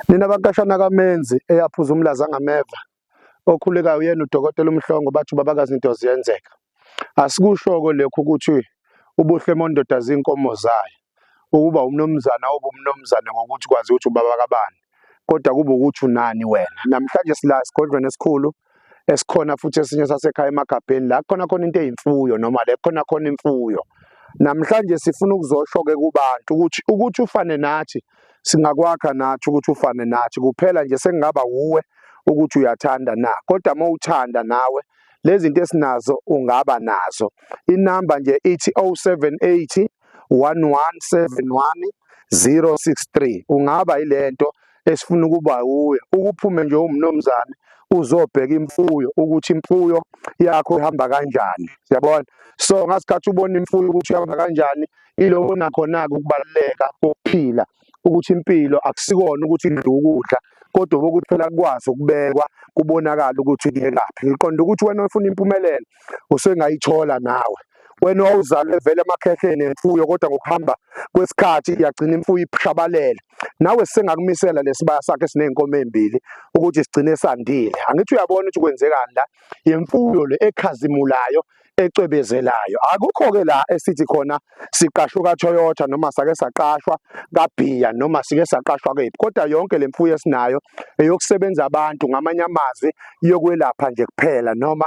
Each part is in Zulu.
Nina bakashana kamenzi eyaphuza umlaza ngameva okhulekayo uyena udokotela umhlongo bathi ubabakazi into ziyenzeka asikushoko lekho ukuthi ubuhle mondoda zinkomo zayo ukuba umnomzana obumnomzana ngokuthi kwazi ukuthi ubaba kabani kodwa kube ukuthi unani wena namhlanje sila sigodlweni esikhulu esikhona futhi esinye sasekhaya emagabheni la khona khona into eyimfuyo noma le khona khona imfuyo namhlanje sifuna ukuzosho-ke kubantu ukuthi ukuthi ufane nathi singakwakha nathi ukuthi ufane nathi kuphela nje sekungaba wuwe ukuthi uyathanda na kodwa uma uthanda nawe lezi zinto esinazo ungaba nazo inamba nje ithi 0780 1171 063 ungaba yilento esifuna ukuba wuye ukuphume nje umnomzane uzobheka imfuyo ukuthi imfuyo yakho ihamba kanjani siyabona so ngasikhathi ubona imfuyo ukuthi ihamba kanjani iloko nakhona-ke ukubaluleka kokuphila ukuthi impilo akusikona ukuthi idla ukudla kodwa ukuthi phela kukwazi ukubekwa kubonakala ukuthi kuyekaphi ngiqonda ukuthi wena ofuna impumelelo usengayithola nawe wena owawuzalwe vele emakhehleni emfuyo kodwa ngokuhamba kwesikhathi iyagcina imfuyo ishabalele nawe sengakumisela lesibaya sakhe esinezinkomo ezimbili ukuthi sigcine sandile angithi uyabona ukuthi kwenzekani la yemfuyo le ekhazimulayo ecwebezelayo akukho-ke la esithi khona siqashwe kaToyota noma sake saqashwa kaBhiya noma sike saqashwa kephi kodwa yonke le mfuyo esinayo eyokusebenza abantu ngamanye amazwi yokwelapha nje kuphela noma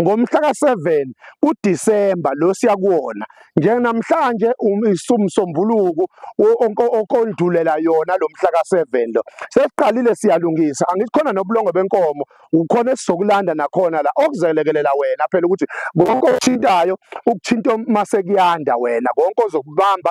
ngomhla ka-7 kuDisemba lo siya kuwona njenamhlanje um, isumsombuluko okondulela yona lo mhla ka-7 lo sesiqalile siyalungisa angithi khona nobulongo benkomo ukhona esizokulanda nakhona la okuzelekelela wena phela ukuthi konke okuthintayo ukuthinta masekuyanda wena konke ozokubamba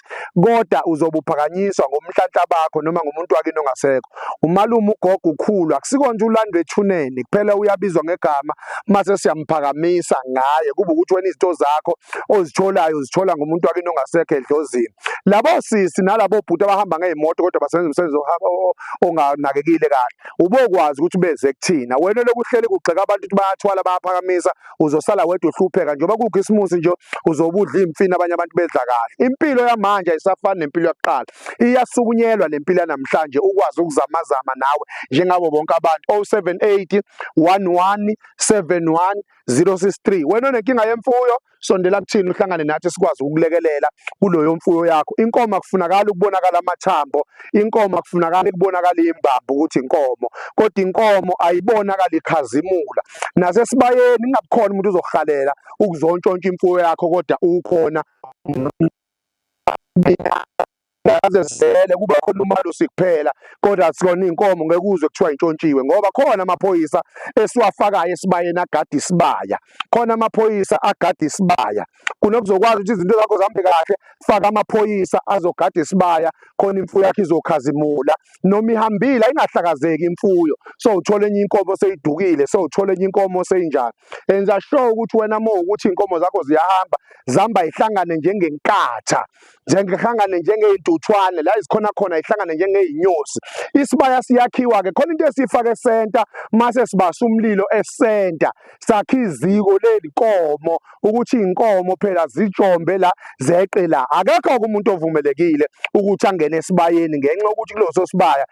kodwa uzobe uphakanyiswa ngomnhlanhla bakho noma ngomuntu wakini ongasekho umalume ugogo ukhulu akusiko nje ulandwe ethuneni kuphela uyabizwa ngegama mase siyamphakamisa ngaye kuba ukuthi wena izinto zakho ozitholayo uzithola ngomuntu wakini ongasekho edlozini labo sisi nalabo bhuti abahamba ngezimoto kodwa basebenza umsebenzi onganakekile kahle ubokwazi ukuthi beze kuthina wena lokuhleli kugxeka abantu ukuthi bayathwala bayaphakamisa uzosala wedwa uhlupheka njengoba kukhisimusi nje uzobudla imfini abanye abantu bedla kahle impilo yamanje ayisafani nempilo yokuqala iyasukunyelwa lempilo yanamhlanje ukwazi ukuzamazama nawe njengabo bonke abantu 078 11 71 063 wena onenkinga yemfuyo sondela kuthini uhlangane nathi sikwazi ukulekelela kuloyo mfuyo yakho inkomo akufunakala ukubonakala amathambo inkomo akufunakala ukubonakala imbambo ukuthi inkomo kodwa inkomo ayibonakala ikhazimula nasesibayeni kungabikhona umuntu uzokuhalela ukuzontshontsha imfuyo yakho kodwa ukhona ngaze sele kuba khona umalusi kuphela kodwa sikona inkomo ngeke uzwe kuthiwa intshontshiwe ngoba khona amaphoyisa esiwafakayo esibayeni agada isibaya khona amaphoyisa agada isibaya kunokuzokwazi ukuthi izinto zakho zihambe kahle faka amaphoyisa azogada isibaya khona imfuyo yakhe izokhazimula noma ihambile ayingahlakazeki imfuyo so uthola enye inkomo seyidukile so uthola enye inkomo seyinjani enza sure ukuthi wena uma ukuthi inkomo zakho ziyahamba zihamba ihlangane njengenkatha njengehlangane njengeyintuthwane la izikhona khona ihlangane njengeyinyosi isibaya siyakhiwa ke khona into esifake center mase sibasa umlilo esenta sakhe iziko lelinkomo ukuthi inkomo phela zijombe la zeqe la akekho umuntu ovumelekile ukuthi angene esibayeni ngenxa ukuthi kuloso sibaya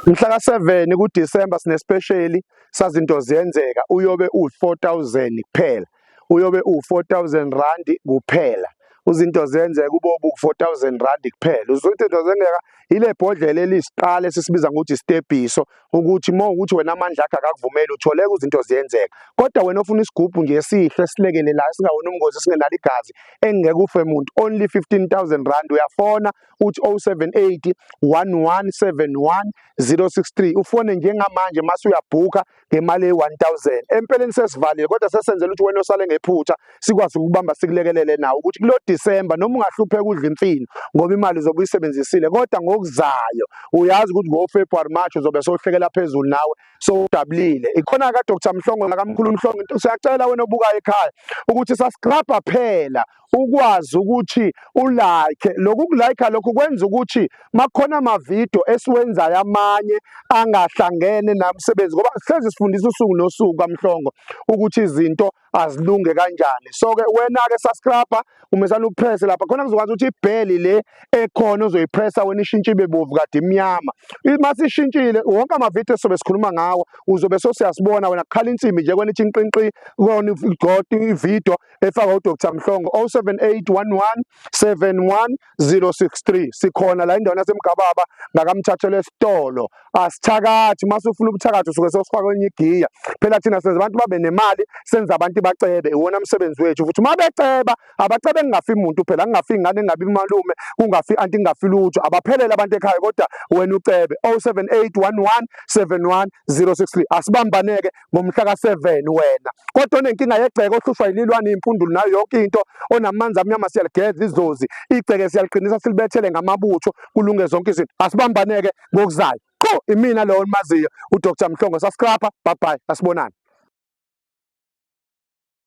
mhla ka7 kuDecember sinesipesheli sazinto ziyenzeka uyobe u4000 kuphela uyobe uwu-4000 randi kuphela uzinto zenze kube obu-4000 randi kuphela uzothi into zengeka ile bhodlela elisiqala esisibiza ngokuthi isitebhiso ukuthi uma ukuthi wena amandla akhe akakuvumeli utholeka izinto ziyenzeka kodwa wena ofuna isigubhu nje esihle esilekelelayo singawona umngozi singenalo igazi engeke ufe muntu only 15000 rand uyafona uthi 078 1171 063 ufone njengamanje mase uyabhuka ngemali eyi-1000 empeleni sesivalile kodwa sesenzela ukuthi wena osale ngephutha sikwazi ukubamba sikulekelele nawo ukuthi kulo December noma ungahlupheka udla imfino ngoba imali uzobe uyisebenzisile kodwa ngokuzayo uyazi ukuthi ngo-February March uzobe sohlekela phezulu nawe sowudabulile ikhona ka-Dr Mhlongo nakamkhulu Mhlongo siyacela wena obukayo ekhaya ukuthi sasgrabha phela ukwazi ukuthi ulike lokhu kulike lokhu kwenza ukuthi makhona amavidiyo esiwenzayo amanye angahlangene namsebenzi ngoba hlezi sifundisa usuku nosuku kamhlongo ukuthi izinto azilunge kanjani so ke wena ke subscriber umesana upresse lapha khona kuzokwazi ukuthi ibheli le ekhona uzoyipressa wena ishintshe ibe bovu kade imnyama uma sishintshile wonke amavidiyo sobe sikhuluma ngawo uzobe sosiyasibona wena kukhala insimbi nje kwena ithi inqinqi kona igoti ividiyo efaka uDr Mhlongo 0781171063 sikhona la indawo yasemgababa ngakamthathele esitolo asithakathi masufuna ubuthakathi usuke sosifaka kwenye igiya phela thina senza abantu babe nemali senza abantu bacebe iwona msebenzi wethu futhi uma beceba abacebe kungafi muntu phela kungafi ingane engabi malume kungafi anti kungafi lutho abaphelele abantu ekhaya kodwa wena ucebe 0781171063 asibambaneke ngomhla ka-seven wena kodwa onenkinga yegceke ohlushwa yililwane iy'mpundulu nayo yonke into onamanzi amnyama siyaligeza izozi igceke siyaliqinisa silibethele ngamabutho kulunge zonke izinto asibambaneke ngokuzayo qho imina lowo onimaziyo udr mhlongo saskrapha babhayi asibonani